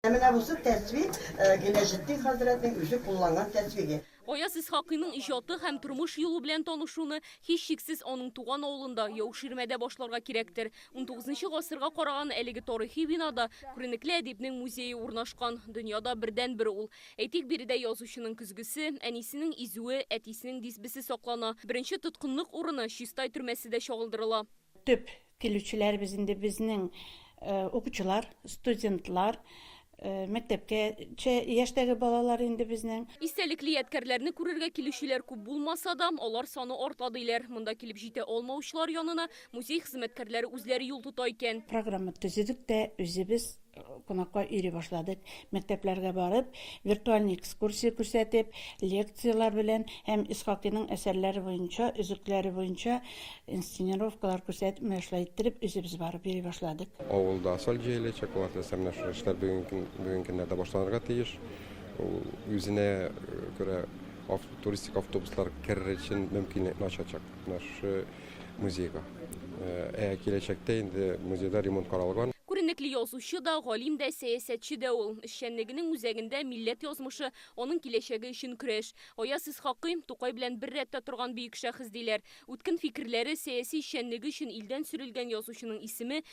Ә менә бусы тәсбих, Гыйләҗетдин хәзрәтнең үзе кулланган тәсбиге. Гаяз Исхакыйның иҗаты һәм тормыш юлы белән танышуны, һичшиксез, аның туган авылында, Яуширмәдә башларга кирәктер. Унтугызынчы гасырга караган әлеге тарихи бинада күренекле әдипнең музее урнашкан. Дөньяда бердәнбер ул. Әйтик, биредә язучының көзгесе, әнисенең изүе, әтисенең дисбесе саклана. Беренче тоткынлык урыны, Чистай төрмәсе дә чагылдырыла. Төп Килүчеләребез инде безнең укучылар, студентлар, мәктәпкәчә яшьтәге балалар инде безнең. Истәлекле ядкәрләрне күрергә килүчеләр күп булмаса да, алар саны арта, диләр. Монда килеп җитә алмаучылар янына музей хезмәткәрләре үзләре юл тота икән. Программа төзедек тә, үзебез Кунакка йөри башладык. Мәктәпләргә барып, виртуаль экскурсия күрсәтеп, лекцияләр белән һәм Исхакыйның әсәрләре буенча, өзекләре буенча инсценировкалар күрсәтеп, менә шулай иттереп, үзебез барып йөри башладык. Авылда асфальт җәеләчәк, ул артистларның шул эшләр бүген көннәрдә башланырга тиеш. Ул үзенә күрә туристик автобуслар керер өчен мөмкинлекне ачачак. Менә шушы музейга. Ә киләчәктә инде музейда ремонт каралган. Күренекле язучы да, галим дә, сәясәтче дә ул. Эшчәнлегенең үзәгендә, милләт язмышы, аның киләчәге өчен көрәш. Аяз Исхакый, Тукай белән бер рәттә торган бөек шәхес, диләр. Үткен фикерләре, сәяси эшчәнлеге өчен илдән сөрелгән язучының исеме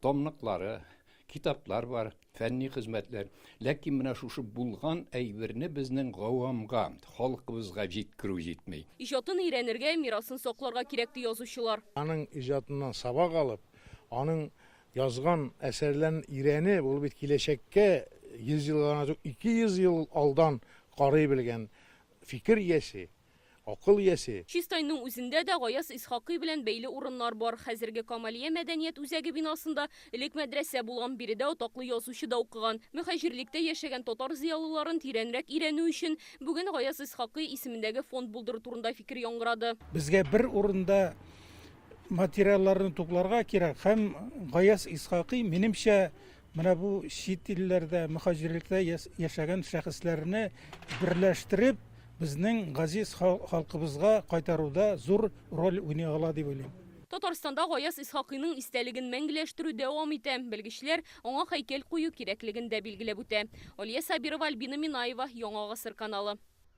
Томлыклары, китаплар бар, фәнни хезмәтләр. Ләкин менә шушы булган әйберне безнең гавамга, халкыбызга җиткерү җитми. Иҗатын өйрәнергә, мирасын сакларга кирәк, ди язучылар. Аның иҗатыннан сабак алып, аның язган әсәрләрен өйрәнеп, ул бит киләчәккә 100 елга гына түгел, 200 ел алдан карый белгән фикер иясе. Акыл иясе. Чистайның үзендә дә Гаяз Исхакый белән бәйле урыннар бар. Хәзерге Камалия мәдәният үзәге бинасында элек мәдрәсә булган, биредә атаклы язучы да укыган. Мөһаҗирлектә яшәгән татар зыялыларын тирәнрәк өйрәнү өчен бүген Гаяз Исхакый исемендәге фонд булдыру турында фикер яңгырады. Безгә бер урында материалларны тупларга кирәк һәм Гаяз Исхакый, минемчә, Менә бу чит илләрдә, мөхаҗирлектә яшәгән шәхесләрне берләштереп, безнең газиз халкыбызга кайтаруда зур роль уйный ала дип уйлыйм. Татарстанда Гаяз Исхакыйның истәлеген мәңгеләштерү дәвам итә. Белгечләр аңа һәйкәл кую кирәклеген дә билгеләп үтә. Алия Сабирова, Альбина Минаева, Яңа гасыр каналы.